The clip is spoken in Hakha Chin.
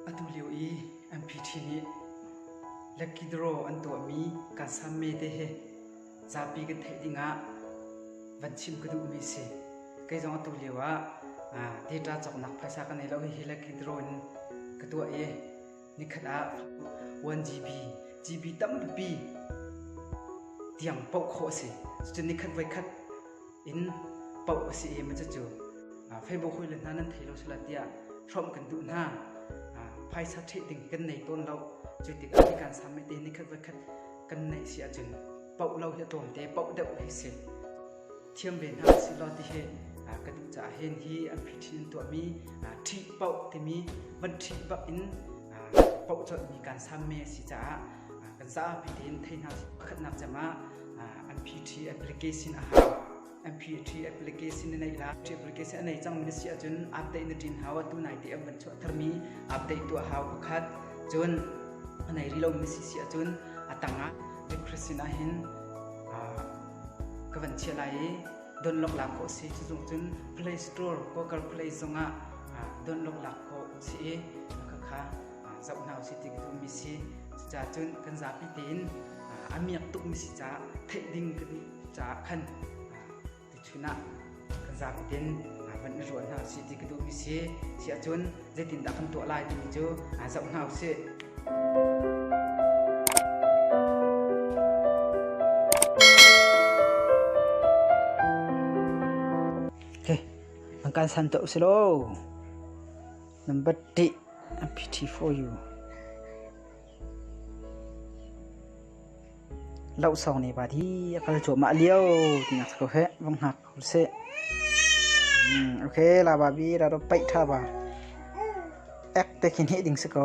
Atulio i an phi nih Lakidro an tuahmi Kansame te hi zapi kan theih dingah van chim ka duhmi a si. Kei zong atulio ah data cawknak phaisa ka nei lo. Hihi Lakidro in ka tuah i nikhat ah 1 GB, GB tampi tiang poh khawh a si. Cucun nikhat voikhat in poh a si i cucu Facebook hawile hna nan thei lo sila tiah hrawmh kan duh hna phaisa ṭheh ding kan nei tawn lo cu tikah hi kan samai te nikhat voi khat kan neih si ahcun poh lo hi a tlawm te poh deuh hi si thiam ve hna si law ti hi ka duh caah hin hi an phiṭhin in tuahmi ṭhih poh timi van ṭhih bak in poh colhmi kan sam me si caah Kan zapi tein thei hna pakhatnak cem ah NPT application a hau. NPT application na neih la, application a nei cang na si ahcun update na ṭin hau a tu nai te an van chuah tharmi update tu a hau pakhat. Cun a nei rih lo na si si ahcun a tang ah request sin ah hin ka van chiah lai i don lok lak ko si cu zung cun Play Store Google Play zong ah don lok lak ko si i khakha zoh hna usih ti ka duh mi si cucaah cun kan zapi tein a miak tuk mi si caah theih ding kan caah khan tuchun ah kan zapi tein van i ruah hna usih ti ka duh mi si siah cun zeitindah kan tuah lai timi cu zoh hna usih kan san to usilaw Number ṭih a pity for you. Lau sawng ne bat hi a kal cuah mah lio ti nak ko he vong hak hur se. Hmm, okay la ba bi ra ro pait tha ba. Ek te khin he ding se ko.